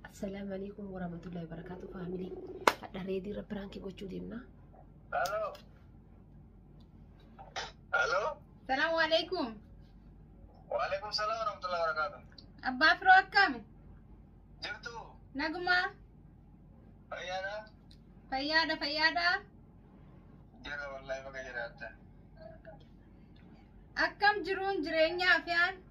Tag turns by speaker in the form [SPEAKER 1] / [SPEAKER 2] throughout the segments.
[SPEAKER 1] Assalaamu alaikum warahmatullahi wabarakatuh faamilii. Hadha reedii irra piraankii gochuu deemna. Halo.
[SPEAKER 2] Halo. Salaamu alaikum. Waalaikum salaam warahmatullahi wabarakatuh. Abbaa firoo
[SPEAKER 3] akkami? Jirtu
[SPEAKER 2] Nagumaa? fayyaadha? Fayyaadha
[SPEAKER 3] fayyaadha?
[SPEAKER 2] Jira wallahi baga jiraatta.
[SPEAKER 3] Akkam jiruun jireenyaa fi aan?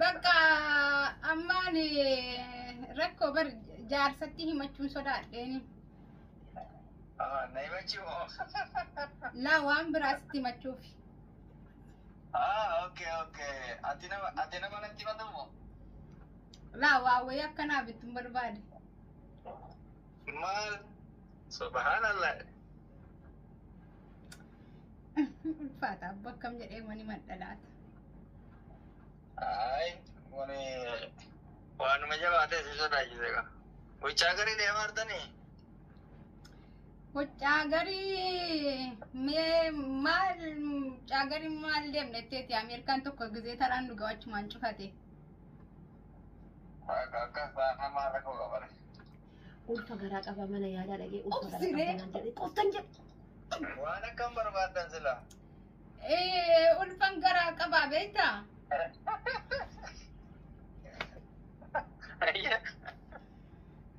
[SPEAKER 3] Bakka ammaan rakkoo bar jaarsatti himachuun sodaadheeni.
[SPEAKER 2] Ah, na himachuu moo?
[SPEAKER 3] Laa waan biraasitti himachuuf. Ah,
[SPEAKER 2] okay, okay. Ati nama, ati nama natti himatu moo?
[SPEAKER 3] Laa waa wayii akkanaa bittuun barbaade. Maal?
[SPEAKER 2] Subhanallah.
[SPEAKER 3] Ulfaata abbo akkam jedhee mani madhalaata. Ay,
[SPEAKER 2] wani waanuma jabaatee si sodaachise gaa. Gochaa garii deemaa jirtanii? Goccaa garii
[SPEAKER 3] mee maal mucaa garii maal deemnetteeti Ameerikaan tokko gizee taraan nu gawachumaan cufate.
[SPEAKER 2] Akka akka baanamaa rakkoo qabare. Ulfa
[SPEAKER 1] garaa qaba mana yaalaa dhaqee ulfa garaa Obsiree. qaba naan jedhe qoftan jedhe. Waan akkam
[SPEAKER 2] barbaaddan sila. Eh,
[SPEAKER 3] ulfan garaa qabaa beektaa?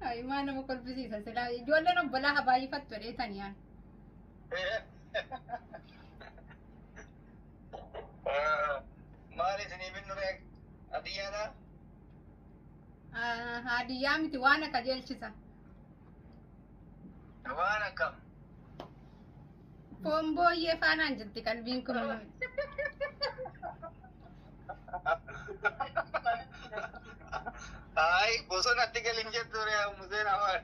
[SPEAKER 3] Ay, maa nama kolfisiisa silaa ijoolleen obbolaa haa baay'ifattu jedhee taniyaan.
[SPEAKER 2] Maal isinii binnu beek? Adiyyaadhaa?
[SPEAKER 3] Haadiyyaa miti waan akka jeelchisa.
[SPEAKER 2] Waan akkam.
[SPEAKER 3] Foon booyyee faanaan jirti qalbiin kun.
[SPEAKER 2] Ay, bosonatti galin jettu ree'a museen afaan.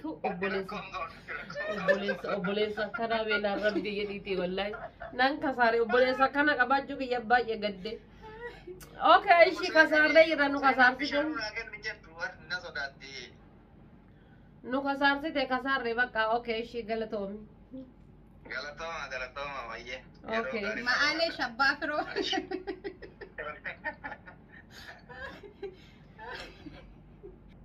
[SPEAKER 1] Tu obboleessa obboleessa obboleessa akkanaa beelaan rabbii jedhiitii wallaahi nan kasaare obboleessa akkana qabaachuu kiyya baay'ee gadde. Okay ishii kasaarree jira nu kasaarsite nu kasaarsite kasaarree bakka okay ishii galatoomi. Galatoma,
[SPEAKER 2] galatoma, wayye. Okay. Ma'aalee
[SPEAKER 1] shabbaa
[SPEAKER 3] firoo.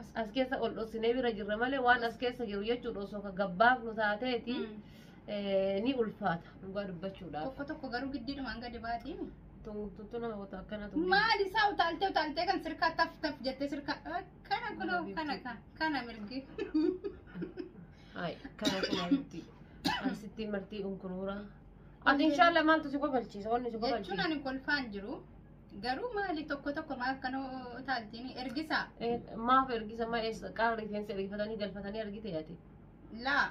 [SPEAKER 1] As, as keessa
[SPEAKER 3] ol
[SPEAKER 1] dhossinee bira jirra malee waan as keessa jiru jechuudha osoo ka gabbaafnu taateeti Mm. eh, ni ulfaata dhugaa dubbachuudhaaf. Tokko tokko garuu giddiidhumaan
[SPEAKER 3] gadi baati. Tun- tun- tun nama
[SPEAKER 1] wata akkana tun. Maal isaa utaaltee
[SPEAKER 3] utaaltee kan sirkaa taf taf jettee sirkaa kana kunoo kana kana kana mirgi.
[SPEAKER 1] Hai, kana kana miti. Asitti martii unkuruura. Ati inshallah maaltu si kofalchiisa? Wanni si Jechuun kofalchiisa. ani kolfaan jiru.
[SPEAKER 3] Garuu maali tokko tokko maa akka nu utaaltini ergisaa Eh, Maaf ergisa
[SPEAKER 1] ma eessa qaama rifeensa ergifatanii galfatanii argite ati. laa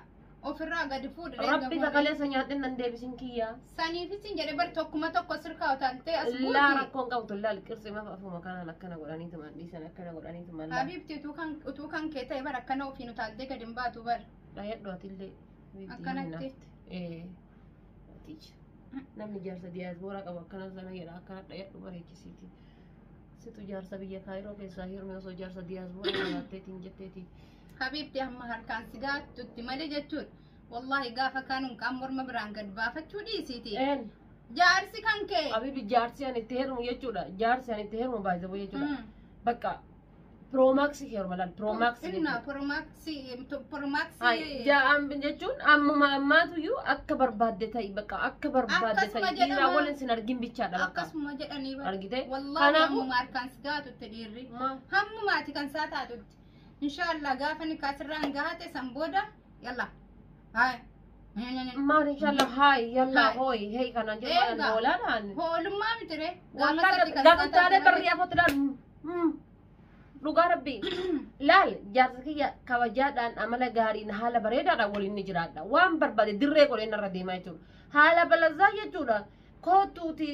[SPEAKER 3] ofirraa gadi fuudhi reega Rabbi fuudhi. kakaleessa nyaadhee
[SPEAKER 1] nan deebisin kiyyaa. Saniifis hin jedhe
[SPEAKER 3] bar tokkuma tokko sirkaa utaaltee as Laa buuti. rakkoon qabtu laal
[SPEAKER 1] qirsi maaf afuma kanaan akkana godhanii tuman dhiisan akkana godhanii tuman laal. Habiibti utuu kan utuu
[SPEAKER 3] kan kee ta'e bar akkana ofiin utaaltee gadi hin baatu bar. Dhayadhu atillee.
[SPEAKER 1] Akkanatti.
[SPEAKER 3] Eh.
[SPEAKER 1] Ticha. Namni jaarsa diyaasbooraa qabu akkana sana jedha akkana dhayadhu bareechisiiti. Situ jaarsa biyya kaayiroo keessaa hirmi osoo jaarsa diyaasbooraa qabaatteetiin jetteeti. Habiibti amma
[SPEAKER 3] harkaan si gaachutti malee jechuudha. Wallaahi gaafa kaanuun kaan morma biraan gad baafachuu dhiisiiti. Een Jaarsi kan kee. abibi jaarsi ani itti
[SPEAKER 1] heerumu jechuudha. Jaarsi ani itti heerumu baay'ee jechuudha. Mm. Bakka Piroomaksi heeruma laal piroomaksi Inna piroomaksi
[SPEAKER 3] piroomaksi
[SPEAKER 1] ja'aan jechuun ammuma ammaatuyyuu akka barbaadde ta'i bakka akka barbaadde Akkasuma ta'i dhiiraa jedhama. waliin sin argin bichaadha bakka. akkasuma jedhanii bara. Argitee?
[SPEAKER 3] Wallaahi Kanaafuu-
[SPEAKER 1] hammuma
[SPEAKER 3] harkaan si gaatutti dhiirri. Ma- Hammumaati kan isaa taatutti. Inshaallah gaafa nikaa sirraan gaate san booda yalla Haay.
[SPEAKER 1] Maal inshallah haay yalla Haay. hooy hee kanaan jedhu Eegaa. maal hoolaadhaan. Hoolummaa miti
[SPEAKER 3] ree. Gaafa
[SPEAKER 1] taalee barri afootu laal. Dhugaa rabbii. Laal jaarsa kiyya kabajaadhaan amala gaariin haala bareedaadhaan waliin ni jiraadha. Waan barbaade dirree godhee narra deemaa jechuudha. Haala balazaa jechuudha. Koottuuti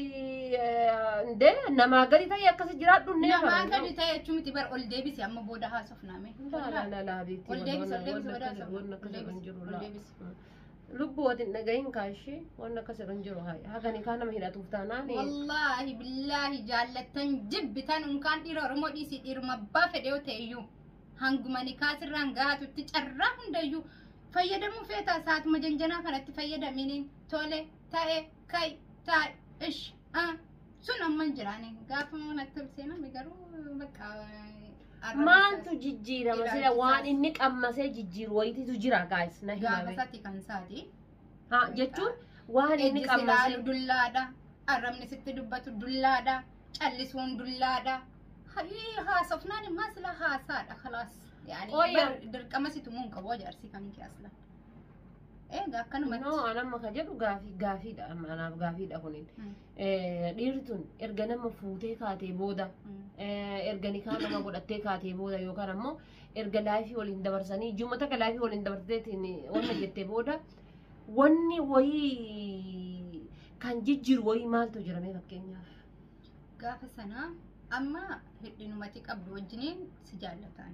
[SPEAKER 1] ndee namaa gadi ta'e akkasi jiraadhu nee Namaa farra. gadi ta'e jechuun
[SPEAKER 3] miti bar ol deebisi amma booda haasofnaa mee. Laalaalaalaa beekti.
[SPEAKER 1] Ol deebisi ol deebisi booda
[SPEAKER 3] haasofnaa. Wanni akkas irra hin jiru Ol laa. deebisi. Lubbuu
[SPEAKER 1] wati hin dhagahin kaashii wanni akkas irra hin jiru haa. Hagani kaa nama hidhatuuf taanaan. Wallaahi
[SPEAKER 3] billaahi jaallattan jibbitan unkaan dhiira Oromoo dhiisii dhiiruma abbaa fedhe yoo ta'e iyyuu hanguma nikaa sirraan gahaatutti carraa hundayyuu fayyadamuu feetaa saatuma janjanaa kanatti fayyadaminiin tole Taa'e, ka'i, taa'i, ish, a. Sun amma hin jiraane. Gaafa manatti ol seename garuu bakka arrabni Maaltu
[SPEAKER 1] isaas- jijjiirama sila Ilaalchisaas. waan inni qammasee jijjiiru wayitiitu jira gaayis na gaafa himame. isaati kan isaati.
[SPEAKER 3] Ha jechuun
[SPEAKER 1] waan inni Ejji si laalu qammasee dullaadha.
[SPEAKER 3] Arrabni sitti dubbatu dullaadha. Callisuun dullaadha. Hayii haasofnaan immaa sila haasaadha kalaas. Yaani Ooyya. bar- dirqama situ muun qabu ajaarsi kan kee asla. Eega akkanumatti. No, an amma ka jedhu
[SPEAKER 1] gaafii gaafiidha amma anaaf gaafiidha kunin. Mm. Eh, Dhiirri tun erga nama fuutee kaatee booda Mm. eh, erga nikaa nama godhattee kaatee booda yookaan ammoo erga laayifii waliin dabarsanii jumma takka laayifii waliin dabarteetiin wanna jettee booda wanni wayii kan jijjiiru wayii maaltu jiramee fakkeenyaaf. Gaafa
[SPEAKER 3] sana amma hidhinumatti qabdu wajjiniin si jaallataan.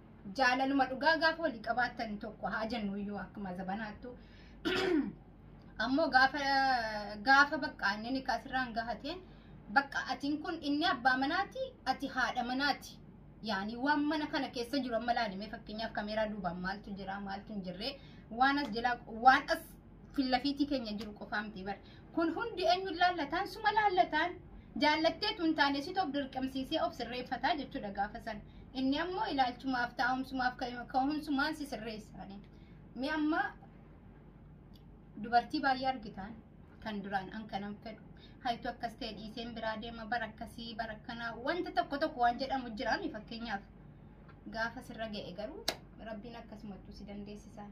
[SPEAKER 3] jaalaluma dhugaa gaafa walii qabaattan tokko haa jennu iyyuu akkuma zabanaattu ammoo gaafa gaafa bakka inni nikaa sirraan gahateen bakka atiin kun inni abbaa manaati ati haadha manaati yaani waan mana kana keessa jiru amma laalimee fakkeenyaaf kameeraa duubaan maaltu jira maaltu hin jirre waan as jala waan as fillafiitii keenya jiru qofaa miti bar kun hundi eenyuun laallataan suma laallataan jaallatteetu hin taane situ of dirqamsiisee of sirreeffataa jechuudha gaafa san inni ammoo ilaalchumaaf taa'umsumaaf ka'umsumaan si sirreessaani mee amma dubartii baay'ee argitaan kan duraan an kanan fedhu haytu akkas ta'e dhiiseen biraa deema bara akkasii bara akkanaa wanta tokko tokko waan jedhamu jiraami fakkeenyaaf gaafa sirra ga'e garuu rabbiin akkasumatti si dandeessisaan.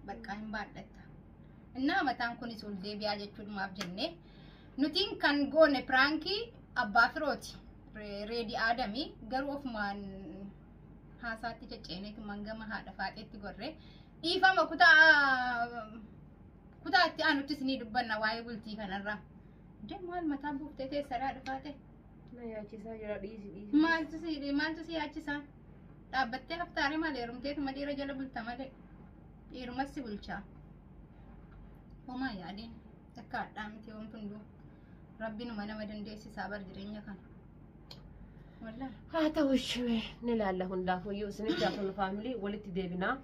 [SPEAKER 3] baqqaa hin baadhatta innaa mataan kunis ol deebi'aa jechuudhumaaf jenne nutiin kan goone piraankii abbaa firooti Re- reedi aadamii garuu ofumaan haasaatti cecceeneetu mangama haadha faaxeetti gorre dhiifama kutaa kutaa itti aanuttis ni dubbanna waa'ee bultii kanarraa Dee maal mataa buuftee teessaraa dhufaate Na yaachisaa
[SPEAKER 1] jira dhiisi dhiisi. maaltu si maaltu si yaachisaa
[SPEAKER 3] Dhaabbattee haftaare maal heerumteetuma dhiira jala bulta malee dhiirumas si bulchaa. Homaa yaadiin akka hadhaa miti wanti hunduu rabbiinuma nama dandeessisaa bar jireenya kana. Wallah. haa ta'u
[SPEAKER 1] ishee ni laalla hundaafuyyuu isinitti hafun faamilii walitti deebinaa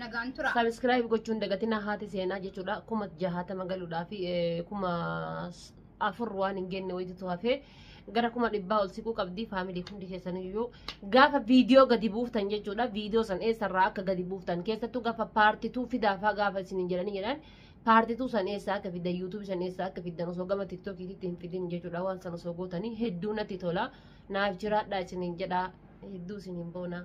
[SPEAKER 3] Nagaan tura. Subscribe gochuu hin dagatinaa
[SPEAKER 1] haati seenaa jechuudha. Kuma jahaatama galuudhaa fi eh, kuma s- afur waan hin genne wayitutu hafee gara kuma dhibbaa ol siquu qabdi faamilii hundi keessaniyyuu gaafa viidiyoo gadi buuftan jechuudha. Viidiyoo san eessarraa akka gadi buuftan keessattuu gaafa paartituu fidaafaa gaafa isin hin jedhanii jedhan paartituu san eessaa akka fiddan yuutuubii san eessaa akka fiddan osoo gama tiktookiitti hin fidin jechuudha waan san osoo gootanii hedduu natti tola. Naaf jiraadhaa isiniin jedhaa hedduu isiniin boonaa.